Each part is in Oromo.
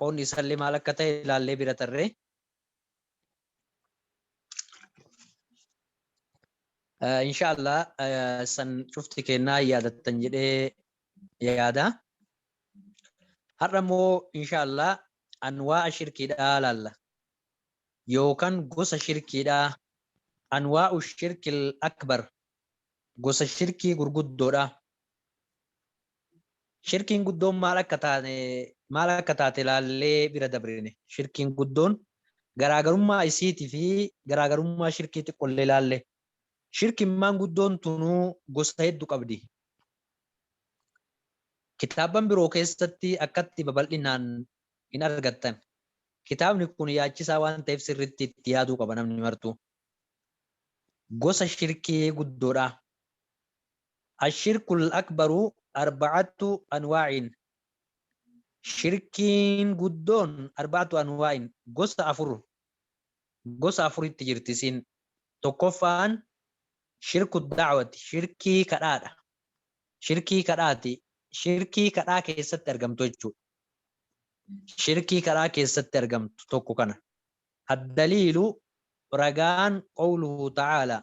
qoonni isaallee maal akka ta'e ilaallee bira tarree. Inshaallah san cufti kennaa yaadattan jedhee yaada. Har'a immoo inshaallah anwaa'a shirkiidhaa laalla. Yookaan gosa shirkiidhaa anwaa'u shirkil akbar gosa shirkii gurguddoodha. Shirkiin guddoon maal akka taane maal akka taate ilaallee bira dabrine. Shirkiin guddoon garaagarummaa isiiti fi garaagarummaa shirkii xiqqollee ilaalle. Shirkimmaan guddoon tunuu gosa heddu qabdi. Kitaabban biroo keessatti akkatti babal'inaan hin argattan. Kitaabni kun yaachisaa waan ta'eef sirritti itti yaaduu qaba namni martuu. Gosa shirkii guddoodha. Ashirkul akbaru arba'attu anwaa'in, shirkiin guddoon arba'attu anwaa'in, gosa afur, gosa afuritti jirti isiin, tokkoffaan shirkku da'awati, shirkii kadhaadha, shirkii kadhaati, shirkii kadhaa keessatti argamtu jechuudha, shirkii kadhaa keessatti argamtu tokko kana, addaliilu ragaan qawluhu ta'aalaa,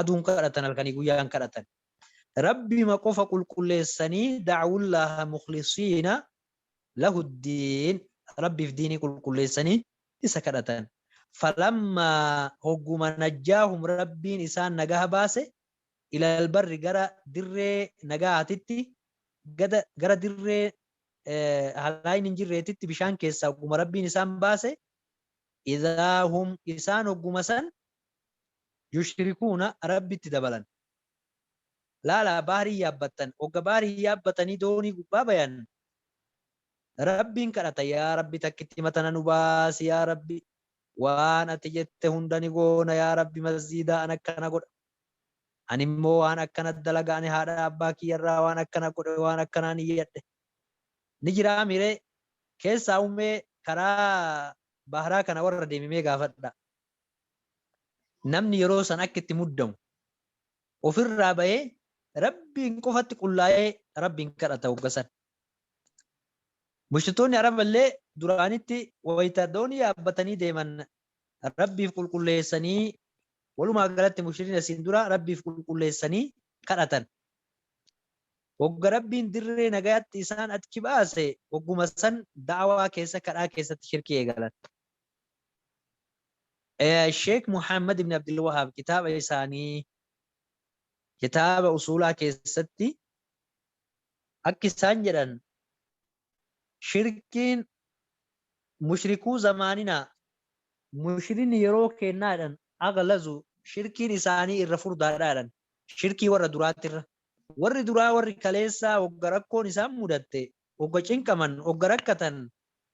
aduun kadhatan halkanii guyyaan kadhatan Rabbima qofa qulqulleessanii da'awullaaha mukhlisiina lahuddiin Rabbiif diinii qulqulleessanii isa kadhatan falammaa hogguma najjaahum Rabbiin isaan nagaha baase ilal barri gara dirree nagaatitti gada gara dirree halaayni hin jirreetitti bishaan keessaa hogguma Rabbiin isaan baase idaahum isaan hogguma san yushrikuuna, Rabbitti dabalan. Laalaa bahrii yaabbattan, hogga bahrii yaabbatanii doonii gubbaa bayan, Rabbiin kadhatan, Yaa Rabbi takkittima tana nu baasi yaa Rabbi, waan ati jette hunda ni goona yaa Rabbi masjiida an akkana godha, ani immoo waan akkana dalaga, ani haadha abbaa kiyya irraa waan akkana godhe, waan akkanaa niyyadhe. Ni jiraamii ree? Keessaahuu mee karaa bahraa kana warra deeme mee gaafadhaa. Namni yeroo san akka itti muddamu, ofirraa bahee Rabbiin qofatti qullaa'ee Rabbiin kadhata hogga san. Mushriktoonni Araba illee duraanitti wayta doonii yaabbatanii deeman Rabbiif qulqulleessanii, walumaa galatti mushrikiin asiin dura Rabbiif qulqulleessanii kadhatan. Hogga Rabbiin dirree nagayaatti isaan achi baase, hogguma san da'awaa keessa, kadhaa keessatti shirkii eegalan. Sheek Muhammad ibn Abdul Wahaab kitaaba isaanii kitaaba usuulaa keessatti akki isaan jedhan shirkiin mushrikuu zamaaninaa mushrinni yeroo keennaa jedhan aghlazu shirkiin isaanii irra furdaadhaa jedhan shirkii warra duraatirra warri duraa warri kaleessaa wagga rakkoon isaan mudatte Ogga cinqaman, ogga rakkatan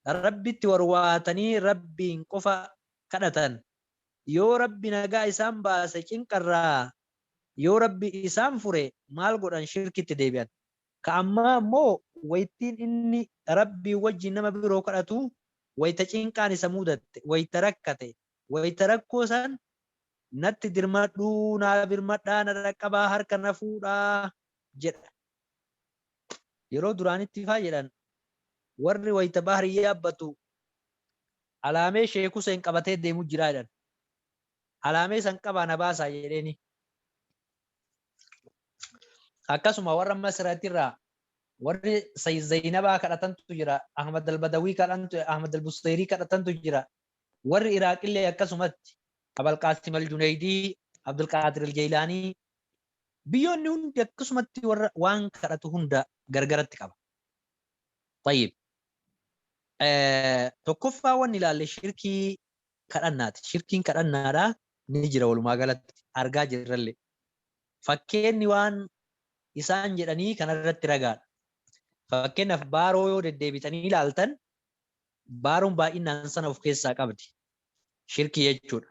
Rabbitti warwaatanii Rabbiin qofa kadhatan. Yoo Rabbi nagaa isaan baase cinqarraa, yoo Rabbi isaan fure maal godhan shirkitti deebi'an. Ka ammaa ammoo waytiin inni Rabbiin wajjiin nama biroo kadhatu wayta cinqaan isa muudatte, wayta rakkate, wayta rakkoo san natti dirmadhuu, naa birmadhaa, na dhaqqabaa, harka na fuudhaa jedha. Yeroo duraanitti faa jedhan warri wayita bahrii yaabbatu alaamee Sheek Huseen qabatee deemu jira jedhan. Alaamee san qabaa na baasaa jedheeni. Akkasuma warra Masiratirraa warri Sayyid Zaynabaa kadhatantu jira, Ahmad al-Badawii kadhantu, Ahmad al-Busayrii kadhatantu jira. Warri Iraaqillee akkasumatti Abal Qaasim al-Juneeydii, Abdul Qaadir al-Jeylaanii, Biyyoonni hundi akkasumatti warra waan kadhatu hunda gargaratti qaba. Xayyib. Tokkoffaa wanni ilaalle shirkii kadhannaati. Shirkiin kadhannaadha ni jira walumaa galatti argaa jirralle. Fakkeenni waan isaan jedhanii kanarratti ragaadha. Fakkeenyaaf baaroo yoo deddeebitanii ilaaltan baaroon baay'inaan sana of keessaa qabdi. Shirkii jechuudha.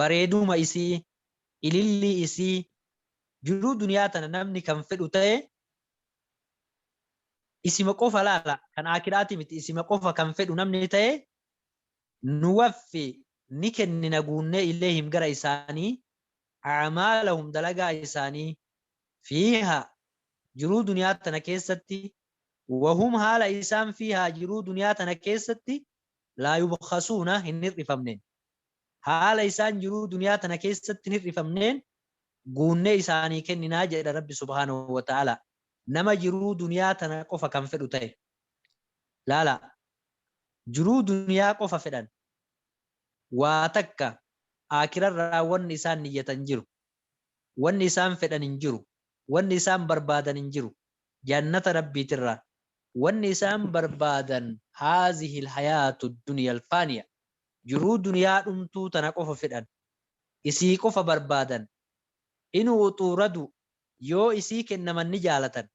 bareeduma isii, ilillii isii, jiruu duniyaa tana namni kan fedhu ta'e isima qofa laala kan aakiraati miti isima qofa kan fedhu namni ta'e nuwaffi ni kennina guunnee ileehim gara isaanii acmaalahum dalagaa isaanii fiihaa jiruu duniyaa tana keessatti wahum haala isaan fiihaa jiruu duniyaa tana keessatti laa yubkhasuuna hin hir'ifamneen. Haala isaan jiruu duniyaa tana keessatti hin hir'ifamneen guunnee isaanii kenninaa jedha Rabbi subhaanahu wa ta'aalaa, nama jiruu duniyaa tana qofa kan fedhu ta'e. Laalaa! Jiruu duniyaa qofa fedhan. Waa takka Aakhirarraa wanni isaan niyyatan hin jiru. Wanni isaan fedhan hin jiru. Wanni isaan barbaadan hin jiru. Jannata Rabbiitirraa. Wanni isaan barbaadan haazihil hayaatu duniyal faaniya. Jiruu duniyaa dhumtuu tana qofa fedhan. Isii qofa barbaadan. Inuu utuu radu yoo isii kennaman ni jaalatan.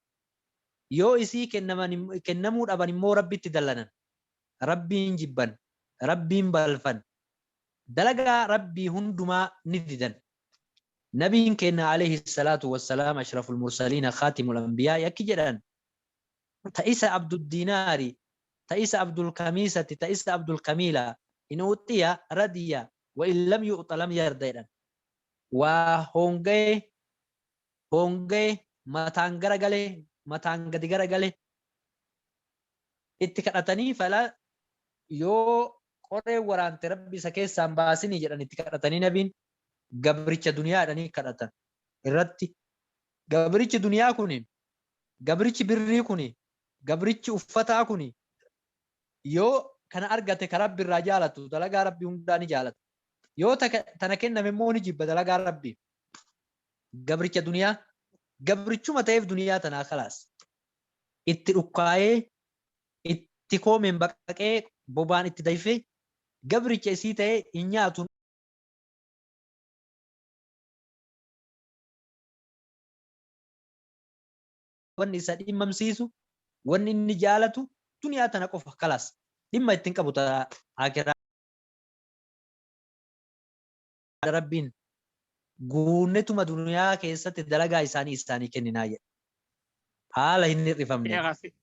Yoo isii kennaman kennamuu dhaban immoo Rabbitti dallanan. Rabbiin jibban. Rabbiin balfan. Dalagaa Rabbii hundumaa ni didan. Nabiin keenna aleyhi salaatu wassalaam ashraful mursaliina khaatimul anbiyaa'i akki jedhan, ta isa Abduddinaari, ta isa Abdulkamiisati, ta isa Abdulkamiila, in u'tiya, radiya, wa in lam yu'ta lam yarda jedhan. Waa hoongaye, hoongaye, mataan gara gale, mataan gadi gara gale, itti kadhatanii fala yoo qoreen waraante Rabbi isa keessaa hin baasinii jedhan itti kadhatanii nabiin, gabricha duniyaadhanii kadhatan, irratti gabrichi duniyaa kun gabrichi birrii kuni, gabrichi uffataa kuni yoo kana argate ka Rabbi irraa jaalatu dalagaa Rabbii hundaa ni jaalata. Yoo ta, tana kenname immoo ni jibba dalagaa Rabbii. Gabricha duniyaa gabrichuma ta'eef duniyaa tanaa khalaas. Itti dhukkaayee, itti koomeen baqaqee, bobaan itti dayfee, gabricha isii ta'ee hin nyaatu, wanni isa dhimmamsiisu wanni inni jaalatu duniyaa tana qofa kalaas dhimma ittiin qabu ta'a akiraa rabbiin guunnetuma duniyaa keessatti dalagaa isaanii isaanii kenninaa jedhe haala hin hir'ifamne Sheekh asi-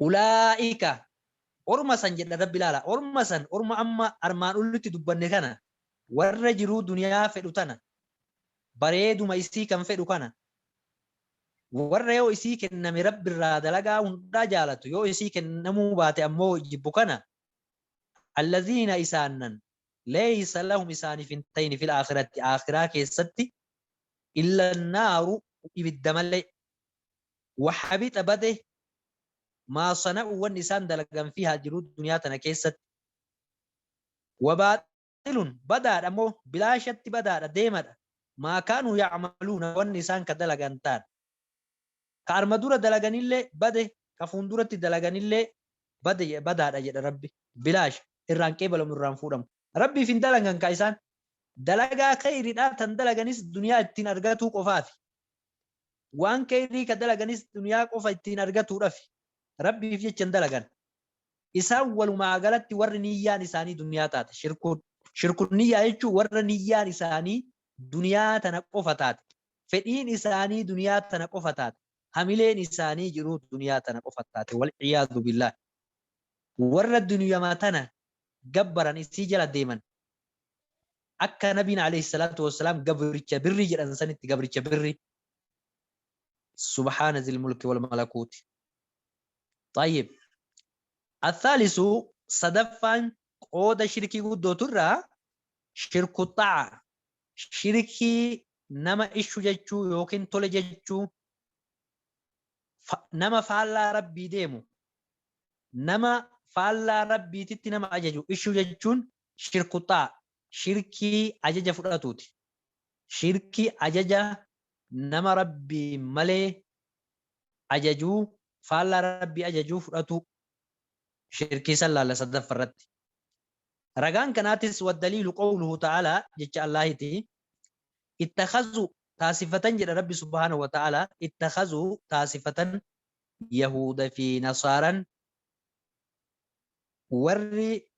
Ulaa'ika orma san jedha rabbi ilaala orma san orma amma armaan olitti dubbanne kana warra jiruu duniyaa fedhu tana bareeduma isii kan fedhu kana warra yoo isii kenname rabbi irraa dalagaa hundaa jaalatu yoo isii kennamuu baate ammoo jibbu kana allaziina isaannan leeysa lahum isaaniif hin ta'in fil aakiratti aakiraa keessatti illa naaru ibidda malee Wahabixa bade maa sana'u wanni isaan dalagan fiihaa jiruu duniyaa tana keessatti wabaaxilun badaadha moo bilaashatti badaadha deemadha maa kaanuu yacmaluuna wanni isaan ka dalagan taan ka arma dura dalaganillee bade ka fuunduratti dalaganillee bade badaadha jedha rabbi bilaasha irraan qeebalamu irraan fuudhamu rabbiif hin dalagan ka isaan dalagaa keyridhaa tan dalaganis duniyaa ittiin argatuu qofaafi Waan kheeyrii ka dalaganis duniyaa qofa ittiin argatuudhafi. Rabbiif jecha hin dalagan. Isaan walumaa galatti warri niyyaan isaanii duniyaa taate, shirkuun. Shirkun niyyaa jechuun warra niyyaan isaanii duniyaa tana qofa taate, fedhiin isaanii duniyaa tana qofa taate, hamileen isaanii jiruu duniyaa tana qofa taate, wal-iyaadhu billaah. Warra duniyama tana gabbaran isii jala deeman. Akka nabiin aleyhi salaatu wassalaam gabricha birrii jedhan sanitti gabricha birrii. Subhaana zil mulki wal malakuuti. Xayyib. Athaalisu sadaffaan qooda shirkii guddootu irraa shirku xa'a. Shirkii nama ishu jechuu yookiin tole jechuu fa- nama faallaa rabbii deemu nama faallaa rabbiititti nama ajaju ishu jechuun Shirkuxaa, shirkii ajaja fudhatuuti. Shirkii ajaja nama Rabbiin malee ajajuu, faallaa Rabbii ajajuu fudhatuu. Shirkii san laalla sadaffa irratti. Ragaan kanaatis waddaliilu qawluhu ta'aalaa jecha Allaahiti, Ittakhazuu, taasifatan jedha Rabbi subhaanahu wa ta'aalaa, Ittakhazuu, taasifatan, Yahuuda fi Nasaaran, warri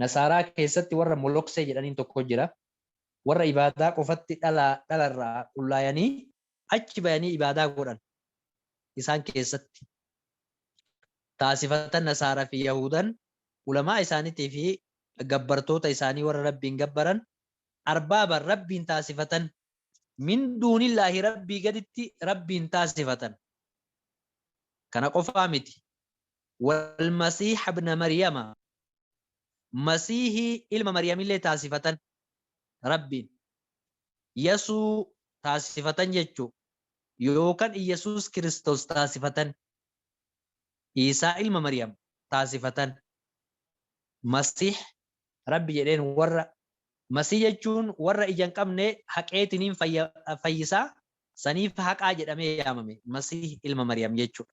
Nasaaraa keessatti warra Moloksee jedhaniin tokko jira. Warra ibaadaa qofatti dhalaa dhala irraa qullaayanii achi bayanii ibaadaa godhan. Isaan keessatti taasifatan Nasaara fi Yahuudan ulamaa isaanitii fi gabbartoota isaanii warra Rabbiin gabbaran Arbaaban Rabbiin taasifatan min duunillaahi Rabbii gaditti Rabbiin taasifatan. Kana qofaa miti. Wal-Masiiha ibna Maryama, Masiihii ilma Maryamillee taasifatan, Rabbiin, Yasuu, taasifatan jechuu, yookan Iyyasuus Kiristoos taasifatan, Iisaa ilma Maryam, taasifatan. Masiih. Rabbi jedheen warra, Masiih jechuun warra ija hin qabne haqeetiniin fayya, fayyisa, saniif haqaa jedhamee yaamame, Masiih ilma Maryam jechuudha.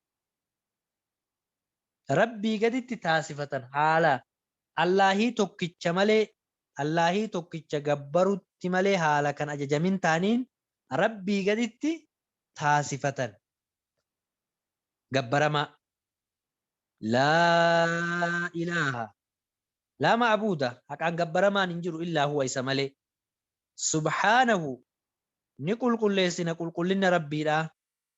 Rabbii gaditti taasifatan haala Allaahii tokkicha malee Allaahii tokkicha gabbarutti malee haala kan ajajamin taaniin Rabbii gaditti taasifatan gabbaramaa Laa ilaaha laa ma'buuda haqaan gabbaramaan hin jiru illaa huwa isa malee subhaanahu ni qulqulleessina qulqullinna Rabbiidhaa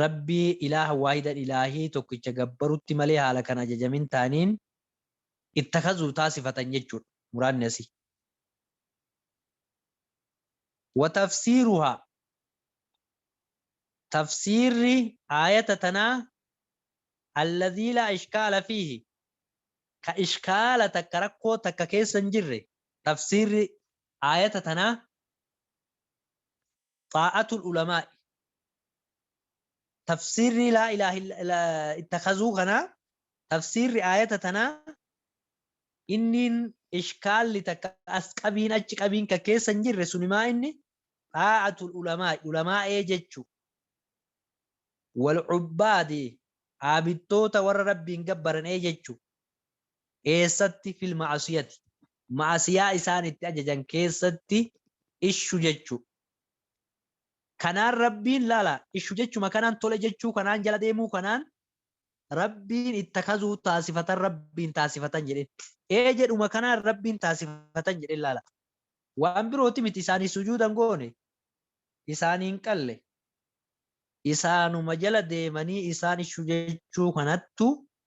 Rabbii ilaaha waahidan ilaahii tokkicha gabbarutti malee haala kan ajajamin taaniin ittakhazuuf taasifatan jechuudha. Muraadni asii. Wa tafsiiruhaa Tafsiirri aayata tanaa alladhii laa ishkaala fiihi Ka ishkaala takka rakkoo takka keessa hin jirre Tafsiirri aayata tanaa Xaa'atul Ulamaa'i. Tafsiirrii laa ilaaha illa ittakazuu kanaa tafsiirri aayata tanaa inniin ishkaalli takka as qabiin achi qabiin ka keessa hin jirre suni maa inni xaa'atul ulamaa'i ulamaa'ee jechu wal cubbaadi aabidtoota warra rabbiin gabbaran ee jechu Eessatti fil ma'asiyati ma'asiyaa isaan itti ajajan keessatti ishu jechu kanaan rabbiin laala ishu jechuma kanaan tole jechuu kanaan jala deemuu kanaan rabbiin ittakazuu taasifatan rabbiin taasifatan jedheen ee jedhuma kanaan rabbiin taasifatan jedheen laala waan birooti miti isaanii sujuudan goone isaaniin qalle isaanuma jala deemanii isaan ishu jechuu kanattu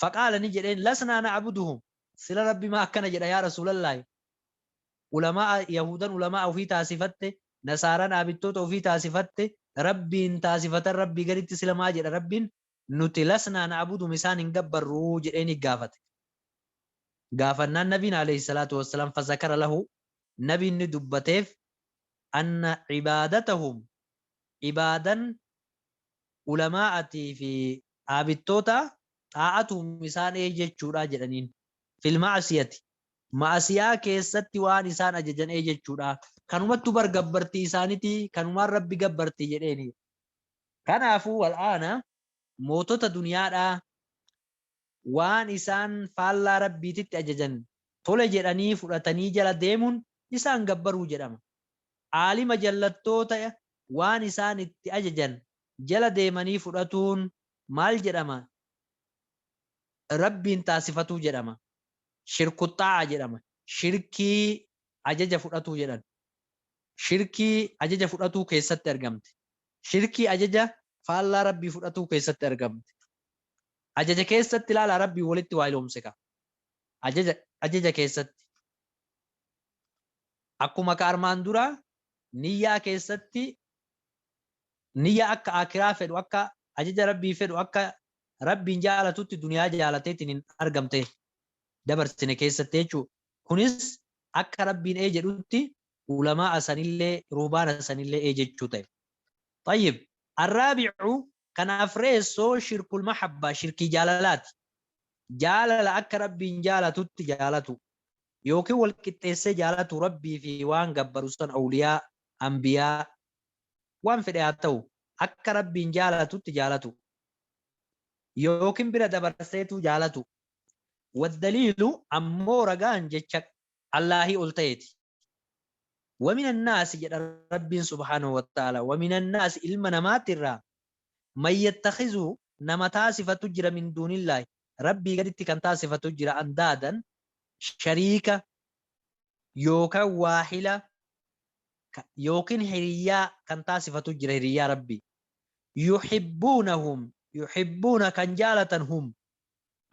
Faqaala ni jedheen, Lasnaa na'buduhum, sila Rabbi maa akkana jedha yaa Rasuulallaahi, Ulamaa'a, Yahuudan ulamaa'a ufii taasifatte, Nasaaran aabidtoota ufii taasifatte, Rabbiin taasifatan Rabbii gaditti sila maa jedha Rabbiin, Nuti lasnaa na'buduhum isaan hin gabbarru jedheenii gaafate. Gaafannaan Nabiin aleyhi salaatu wassalaam fazakara lahu, Nabiin ni dubbateef, anna ibaadatahum, ibaadan ulamaa'atii fi Dhaabittoota, Xaa'atuhum isaan ee jechuudha jedhaniin. Fil ma'asiyati, Ma'asiyaa keessatti waan isaan ajajan ee jechuudha. Kanumattu bar gabbartii isaaniti, kanumaan Rabbi gabbarti jedheeni. Kanaafu, wal aana, mootota duniyaadhaa waan isaan faallaa Rabbiititti ajajan tole jedhanii fudhatanii jala deemun isaan gabbaruu jedhama. Aalima jallattoota waan isaan itti ajajan jala deemanii fudhatuun maal jedhama? Rabbiin taasifatuu jedhama. Shirkuxxaa'a jedhama. Shirkii ajaja fudhatuu jedhan. Shirkii ajaja fudhatuu keessatti argamti. Shirkii ajaja faallaa Rabbii fudhatuu keessatti argamti. Ajaja keessatti ilaalaa Rabbiin walitti waahiloomse ka. Ajaja, ajaja keessatti. Akkuma ka armaan duraa niyyaa keessatti Niyya akka Aakhiraa fedhu akka ajaja Rabbii fedhu akka Rabbiin jaalatutti duniyaa jaalateetiin argamte dabarsine keessatti jechuudha. Kunis akka Rabbiin ee jedhutti ulamaa'a sanillee ruhbaana sanillee ee jechuu ta'e. Xayyib. Arraabi'u kan afreessoo shirkul mahabbaa shirkii jaalalaati. Jaalala akka Rabbiin jaalatutti jaalatuu yookiin wal qixxeessee jaalatuu Rabbii fi waan gabbaru san awliyaa anbiyaa, waan fedhe haa ta'u, akka Rabbiin jaalatutti jaalatu, yookiin bira dabarseetuu jaalatu. Waddaliilu, ammoo ragaan jecha Allaahii ol ta'eeti. Wamin annaasi jedha Rabbiin subhaanahu wa ta'aalaa, wamin annaasi ilma namaatti irraa, man yattakhizu nama taasifatu jira min duunillaahi, Rabbii gaditti kan taasifatu jira, andaadan, shariika, yookaan waahila ka- yookiin hiriyyaa kan taasifatu jira hiriyyaa rabbi yuhibbuunahum yuhibbuuna kan jaalatan hum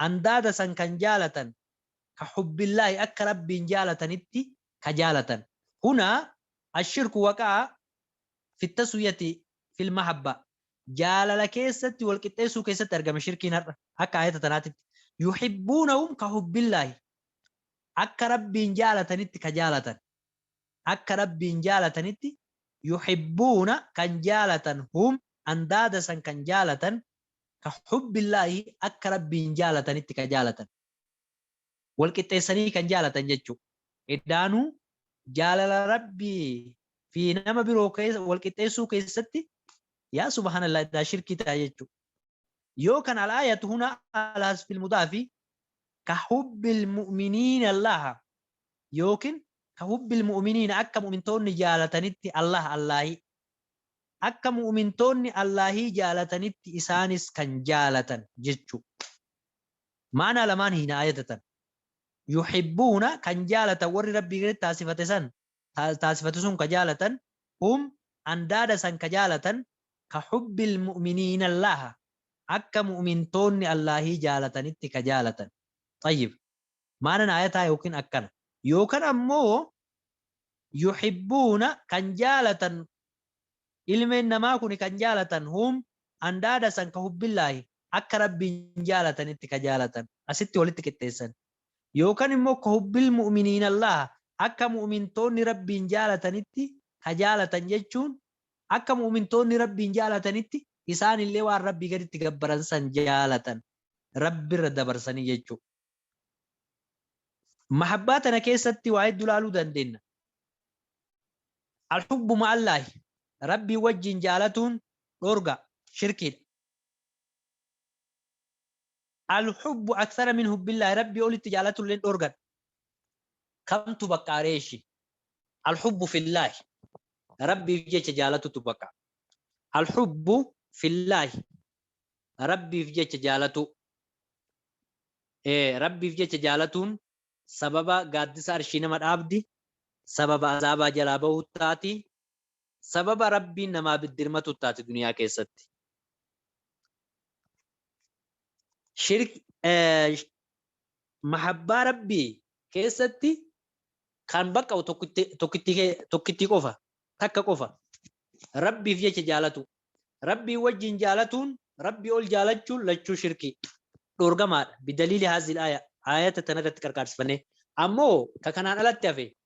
andaada san kan jaalatan ka hubbillaahi akka rabbiin jaalatanitti ka jaalatan huna ashirku waqaa fittasuyati fil mahabba jaalala keessatti wal qixxeessuu keessatti argame shirkiin har'a akka ayata tanaatitti yuhibbuunahum ka hubbillaahi Akka Rabbiin jaalatanitti ka jaalatan, akka Rabbiin jaalatanitti, yuhibbuuna kan jaalatan, hum andaada san kan jaalatan, ka hubbillaahi akka Rabbiin jaalatanitti ka jaalatan. Wal qixxeessanii kan jaalatan jechu'u. Edaanuu jaalala Rabbii fii nama biroo keessa wal qixxeessuu keessatti yaa subhaanallaah edaa shirkii ta'a jechu'u. Yoo kan al-aayatu hunaa alaa hasfil mudaafi Ka hubbil mu'miniina Allaaha yookiin ka hubbil mu'miniina akka mu'mintoonni jaalatanitti Allaaha Allaahii. Akka mu'mintoonni Allaahii jaalatanitti isaanis kan jaalatan jechuu. Ma'anaa lamaan hiina aayata tana. Yuhibbuuna kan jaalatan warri Rabbii gaditti taasifate san ta, taasifatu sun ka jaalatan, hum, andaada san ka jaalatan, ka hubbil mu'miniina Allaaha, akka mu'mintoonni Allaahii jaalatanitti ka jaalatan. Xayyib. Maanan aayataa yookiin akkana. Yookan ammoo yuhibbuuna kan jaalatan, ilmeen namaa kuni kan jaalatan, hum, andaada san ka hubbillaahi, akka Rabbiin jaalatanitti ka jaalatan. Asitti walitti qixxeessan. Yookan immoo kahubbil mu'miniinallaha, akka mu'mintoonni Rabbiin jaalatanitti ka jaalatan jechuun akka mu'mintoonni Rabbiin jaalatanitti isaanillee waan Rabbii gaditti gabbaran san jaalatan, Rabbirra dabarsanii jechu'u. Mahabbaa tana keessatti waa heddu laaluu dandeenna. Al-hubbu ma'allaahi, Rabbiin wajjiin jaalatuun dhoorga, shirkiidha. Al hubbu akthara min hubbillahi rabbii olitti jaalatulleen dhoorgadha. Kamtu baqqaa ree ishi? Al hubbu fillahi rabbiif jecha jaalatutu baqa. Al hubbu fillahi rabbiif jecha jaalatuu. Ee rabbiif jecha jaalatuun sababa gaaddisa arshii nama dhaabdi, sababa azaabaa jalaa bahuu taati, Sababa Rabbiin namaa biddirmatuut taati duniyaa keessatti. Mahabbaa Rabbii keessatti kan baqqa'u tokkittii qofa, takka qofa. Rabbiif jecha jaalatuu. Rabbii wajjiin jaalatuun, Rabbii ol jaalachuun lachuu shirkii. Dhoorgamaadha. Bidaliili haazihil aaya. Aayata tanarratti qarqaarsifannee. Ammoo ka kanaan alatti hafe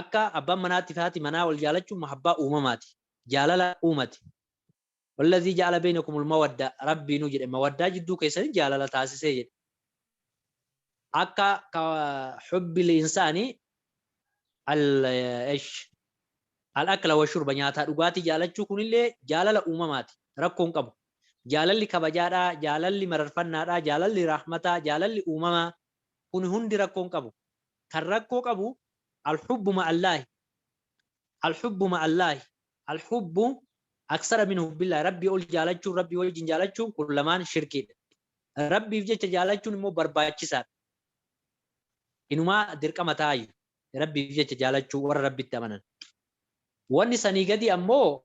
Akka abbaan manaatti fi haati manaa wal jaalachuun mahabbaa uumamaati. Jaalala uumati. Wallazii ja'ala beynakumul mawadda Rabbiinuu jedhe mawaddaa jidduu keessanitti jaalala taasise jedhe. Akka ka hubbil insaani al esh al akla wa shurba nyaataa dhugaatii jaalachuu kunillee jaalala uumamaati. Rakkoo hin qabu. Jaalalli kabajaadha, jaalalli mararfannaadha, jaalalli rahmataa, jaalalli uumamaa, Kun hundi rakkoo hin qabu. Kan rakkoo qabu Al-hubbu ma'allaahi, Al-hubbu ma'allaahi, Al-hubbu aksara min hubbillaahi, Rabbii ol jaalachuun, Rabbii wajjin jaalachuun kun lamaan shirkiidha. Rabbiif jecha jaalachuun immoo barbaachisaadha. Inumaa dirqama taayyu Rabbiif jecha jaalachuu warra Rabbitti amanan. Wanni sanii gadii ammoo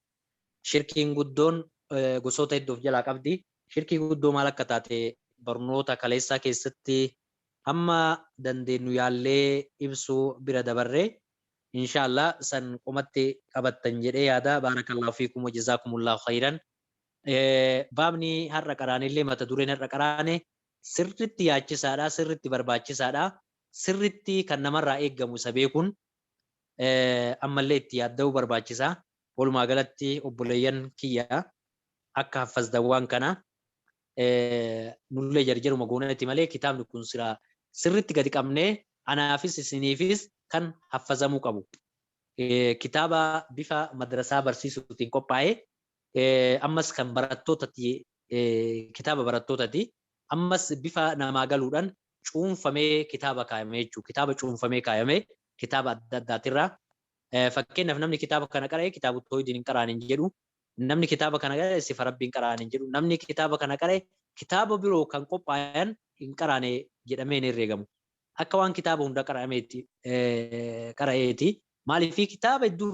Shirkiin guddoon gosoota hedduu of jalaa qabdi. Shirkii guddoo maal akka taate barnoota kaleessaa keessatti hamma dandeennu yaallee ibsuu bira dabarre. Inshaa Allaah san qomatti qabattan jedhee yaada. Baarakallaahu fiikum wa jazaakumullaahu khayran. Baabni har'a qaraanellee mata dureen har'a qaraane sirritti yaachisaadha, sirritti barbaachisaadha, sirritti kan namarraa eeggamu isa beekuun ammallee itti yaadda'uu barbaachisa. Walumaa galatti obboleeyyan kiyya akka haffazdaawwaan kana nullee jarjaruma goonati malee kitaabni kun silaa sirritti gadi qabnee anaafis isiniifis kan haffazamuu qabu. Kitaaba bifa madrasaa barsiisuutiin qophaa'e ammas kan barattootati kitaaba barattootati Ammas bifa namaa galuudhaan cuunfamee kitaaba kaayame jechuudha. Kitaaba cuunfamee kaayame kitaaba adda addaatirraa. Fakkeenyaaf namni kitaaba kana qara'e kitaabu toohidiin hin qara'an hin jedhu. Namni kitaaba kana qara'e sifa rabbii hin qara'an hin jedhu. Namni kitaaba kana qara'e kitaaba biroo kan qophaayan hin qara'ane jedhamee hin herreegamu. Akka waan kitaaba hunda qara'ameetti qara'eeti. Maaliif kitaaba hedduurraa